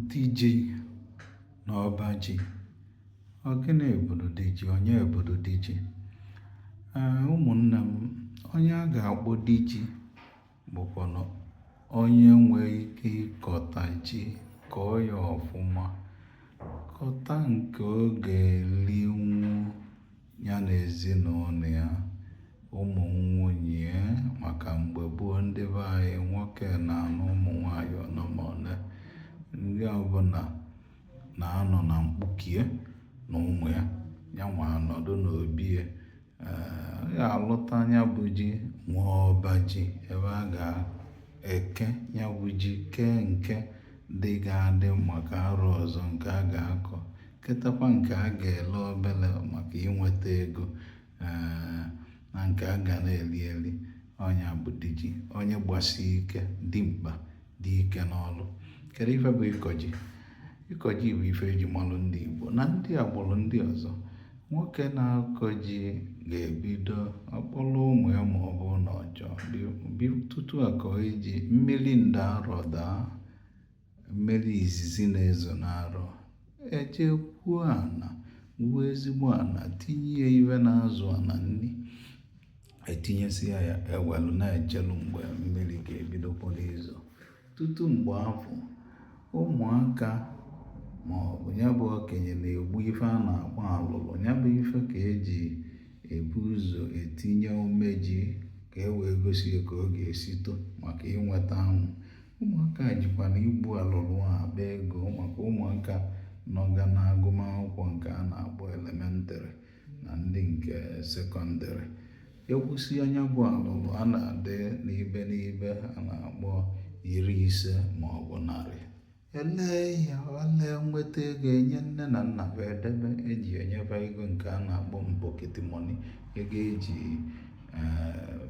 Di ji na ọba ji. Ọ gịnị bụdu di ji? Onye bụdu di ji? Ee, ụmụnna m, onye a ga-akpọ di ji bụkwanụ onye nwee ike ịkọta ji kọọ ya ọfụma, kọta nke ọ ga-elinwu ya na ezinụlọ ya ụmụ nwunye maka mgbe gboo ndị be anyị nwoke na-anụ ụmụ nwaanyị one ma one nke ọbụla na-anọ na mkpuke ya na ụmụ ya ya nwa anọdụ n'obi ya ya alụta nya bụ ji nwee ọba ji ebe a ga-eke ya bụ ji kee nke dị ga-adị maka arọ ọzọ nke a ga-akọ ketakwa nke a ga-ele obere maka inweta ego eh, na nke a ga na-eri eri ọ nya bụ di ji onye gbasi ike dimkpa dị ike n'ọrụ kedu ife bụ ịkọ ji ịkọ ji bụ ife eji malụ ndị Igbo na ndị agbụrụ ndị ọzọ nwoke na-akọ ji ga-ebido ọ kpọrọ ụmụ ya ma ọ bụ na ọ jee ubi tutu a kọọ ji mmiri nda arọ daa mmiri izizi na-ezo n'arọ e jee gwuo ana gwuo ezigbo ana tinye ya ife na-azụ ana nri etinyesịa ya ewelu na-echelu mgbe mmiri ga-ebido kpọrọ izo tutu mgbe afụ ụmụaka ma ọ bụ ya bụ okenye na-egbu ife a na-akpọ alụlụ ya bụ ife ka eji ebu ụzọ etinye ome ji ka e wee gosi ka ọ ga-esi too maka inweta anwụ ụmụaka jikwa na igbu alụlụ a akpa ego maka ụmụaka nọga na agụmakwụkwọ nke a na-akpọ elementary na ndị nke secondary e gbusie nya bụ alụlụ a na-adị n'ibe n'ibe a na-akpọ iri ise ma ọ bụ narị e lee ya ele nweta ego enye nne na nna ba edebe eji enye fa ego nke a na-akpọ pocket money ego eji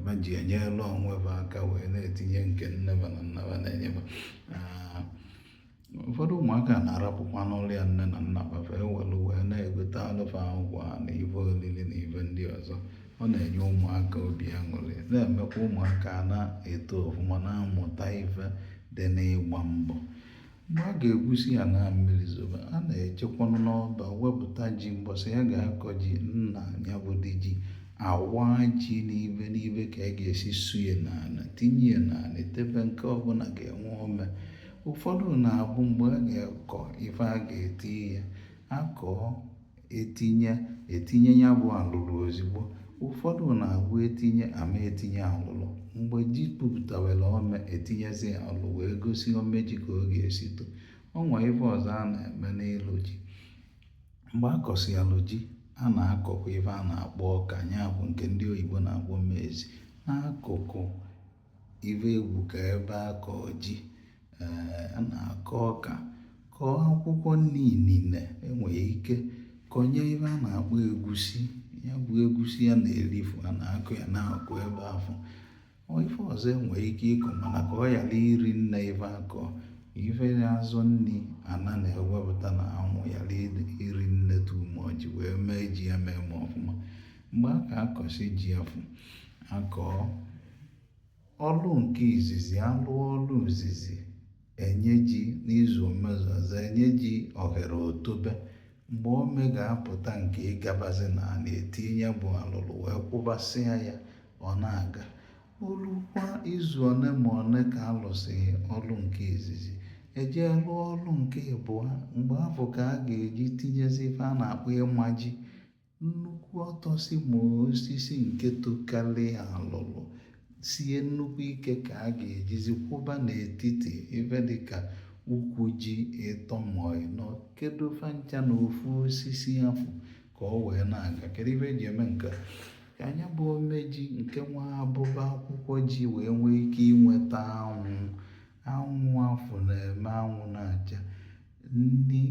ba ji enyere onwe ba aka wee na-etinye nke nne ba na nna ba na-enye ba ụfọdụ ụmụaka na-arapụkwanụlụ ya nne na nna ba fa ewelu wee na-egotalụ fa akwa na ife olili na ife ndị ọzọ ọ na-enye ụmụaka obi aṅụrị na-emekwa ụmụaka na-eto ọfụma na-amụta ife dị n'ịgba mbọ Mgbe a ga-egwusị ana mmiri zobe, a na-ejekwanụ n'ọba wepụta ji mbọsị ya ga-akọ ji nna ya bụ di ji awaa ji n'ibe n'ibe ka a ga-esi suye n'ala tinye ya n'ala tebe nke ọbụla ga-enwe ome ụfọdụ na-abụ mgbe a ga-akọ ife a ga-eti ya akọọ etinye etinye ya bụ alụlụ ozigbo ụfọdụ na-agụ etinye ama etinye alụlụ mgbe ji pupụtawere ome etinyezi alụ wee gosi ome ji ka ọ ga-esi to o nwe ife ọzọ a na-eme n'ịlụ ji mgbe a kọsịalụ ji a na-akọkwa ife a na-akpọ ọka ya bụ nke ndị oyibo na-akpọ maize n'akụkụ ibe egwu ka ebe a kọ ji eh, a na-akọ ọka kọọ akwụkwọ nni niile enwere ike kọnye ife a na-akpọ egusi ya bụ egusi a na-erifu a na-akọ ya n'akụkụ ebe afụ ife ọzọ enwere ike ịkọ mana ka ọ ghara iri nne ife akọ ife na-azọ nni ana na-ewepụta na anwụ ghara iri nne tumọji wee mee ji ya mee ma ọfụma mgbe a ka akọsị ji afụ akọọ ọlụ nke izizi alụọ ọlụ izizi enye ji n'izu omezuaza enye ji ohere o tobe mgbe ome ga-apụta nke ịgabazi na a na-etinye bụ alụlụ wee kwụbasịa ya ọ na-aga o lukwa izu ole ma ole ka alụsịlị ọlụ nke izizi ejee lụọ ọlụ nke ịbụa mgbe afụ ka a ga-eji tinyezi ife a na-akpọ ịma ji nnukwu ọtọsị ma osisi nke tokarị alụlụ sie nnukwu ike ka a ga-ejizi kwụba n'etiti ebe dịka ukwu ji ịtọ ma ịnọ kedo fa ncha na ofu osisi afụ ka ọ wee na-aga kedu ife eji eme nke a ka nya bụ ome ji nke nwe abụba akwụkwọ ji wee nwee ike inweta anwụ anwụ afụ na-eme anwụ na-acha nni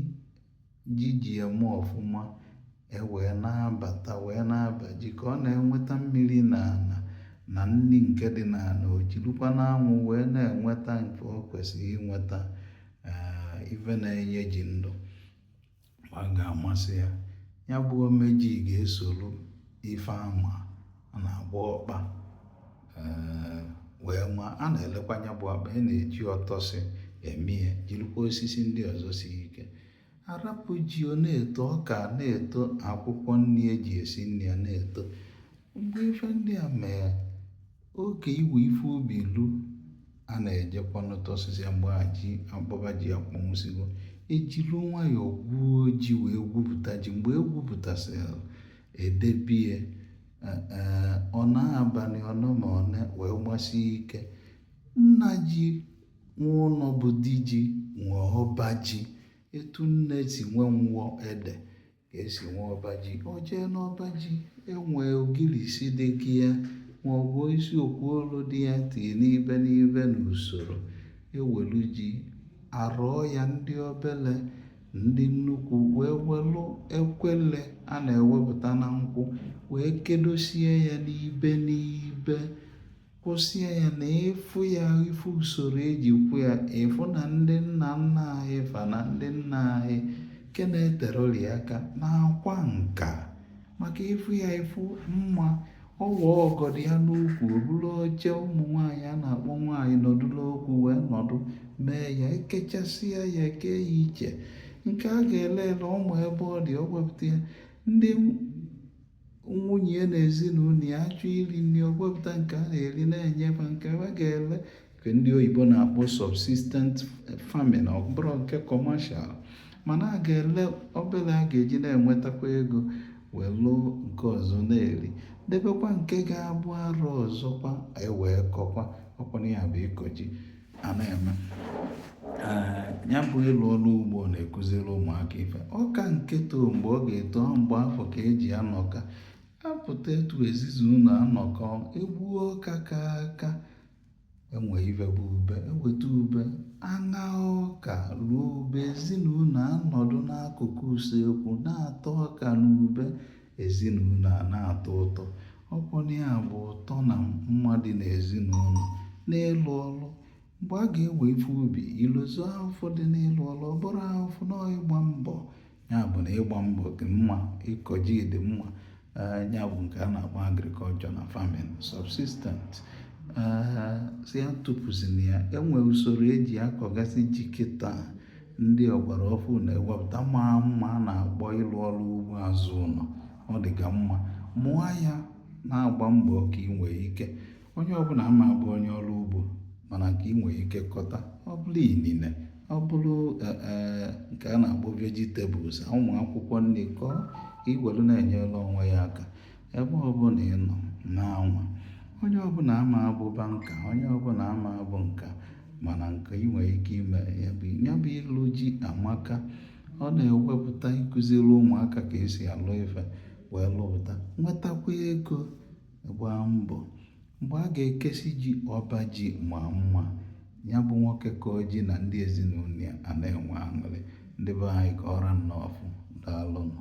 ji ji eme ọfụma e wee na-abata wee na-aba ji ka ọ na-enweta mmiri na ana na nni nke dị n'ana o jirikwa n'anwụ wee na-enweta nke o kwesịrị inweta ee ife na-enye ji ndụ ma ọ ga-amasị ya ya bụ ome ji ga-esoro ife ama a na-agba ọkpa eh, wee ma a na-elekwa anya bụ akpa a na-eji ọtọsị eme ya jirikwa osisi ndị ọzọ siri ike arapụ ji ọ na-eto ọka na-eto akwụkwọ nni eji esi nni a na-eto mgbe ife ndị a mee oge iwe ife ubi lu a na-ejekwanụ tọsịsịa mgbe abụba ji akpọnwụsịgo ejilu nwayọọ gwuo ji wee gwupụta ji mgbe e gwupụtasịrị edebe ya ọ nọọ abalị one ma one wee gbasie ike nna ji nwe ụnọ bụ di ji nwe ọba ji etu nne si nwee nwụọ ede ka esi nwee ọba ji o jee n'ọba ji enwee ogirisi dị gị ya ma ọ bụ isi okwu olu dị ya tinye n'ibe n'ibe n'usoro ewelu ji arụọ ya ndị obele ndị nnukwu wee welụ ekwele a na-ewepụta na nkwụ wee kedosie ya n'ibe n'ibe kwụsie ya na ịfụ ya ịfụ usoro eji kwụ ya ịfụ na ndị nna nna anyị fa na ndị nna anyị nke na-eteroli aka na-akwa nka maka ịfụ ya ịfụ mma ọ waa ọgọdọ ya n'ukwu o buru oche ụmụ nwaanyị a na-akpọ nwaanyị nọdụrụ okwu wee nọdụ mee ya ekechasịa ya ekee ya iche nke a ga-ele ele ọ ma ebe ọ dị ọ gwepụta ya ndị nwunye na ezinụlọ ya achọọ iri nri ọ gwepụta nke a na-eri na-enye fa nke a ga-ele nke ndị oyibo na-akpọ subsistent farming ọ bụrọ nke commercial mana a ga-ele obere a ga-eji na-enwetakwa ego wee lụọ nke ọzọ na-eri debekwa nke ga-abụ arọ ọzọkwa ewee kọkwa ọkwana ya bụ ịkọ ji a na-eme ya bụ ịlụ ọrụ ugbo na-ekụziri ụmụaka ife ọka nke too mgbe ọ ga-eto mgbe afụ ka eji anọkọ apụta etu ezizi ụlọ anọkọ egbuo ọka ka aka enwe ife bụ ube eweta ube aṅa ọka ruo ube ezinụlọ anọdụ n'akụkụ usekwu na-ata ọka na ube ezinụlọ a na-atọ ụtọ ọkwụna ya bụ ụtọ na mma dị n'ezinụlọ n'ịlụ ọlụ mgbe a ga-ewe ife ubi i lozọ ahụfụ dị n'ịlụ ọlụ ọ bụrọ ahụfụ na ịgba mbọ ya bụ na ịgba mbọ dị mma ịkọ ji dị mma eh, ya bụ nke a na-akpọ agriculture na farming subsistent eh, si ya tụpụzina ya enwe usoro eji akọgasị ji kịta ndị ọgbara ọfụụ na-egwepụta ma mma a na-akpọ ịlụ ọrụ ugbo azụ ụlọ ọ dịka mma mụọ ya na-agba mbọ ka ị nwee ike onye ọbụla ama abụ onye ọrụ ugbo mana nke ị nwere ike kọta ọ bụrụ inine ọ bụrụ e, e, nke a na-akpọ vegetables ụmụ akwụkwọ nri kọọ ka i were na-enyere onwe ya aka ebe ọbụla ị nọ na-anwa onye ọbụla ama abụ banker onye ọbụla ama abụ nka mana nke ị nwere ike ime ya bụ ya bụ ịlụ ji amaka ọ na-egwepụta ịkụziri ụmụaka ka esi alụ ife wee lụpụta nwetakwa ego gbaa mbọ mgbe a ga-ekesi ji ọba ji ma mma ya bụ nwoke kọ ji na ndị ezinụlọ ya a na-enwe aṅụrị ndị be anyị ka ọ ra nnọọfụ daalụnụ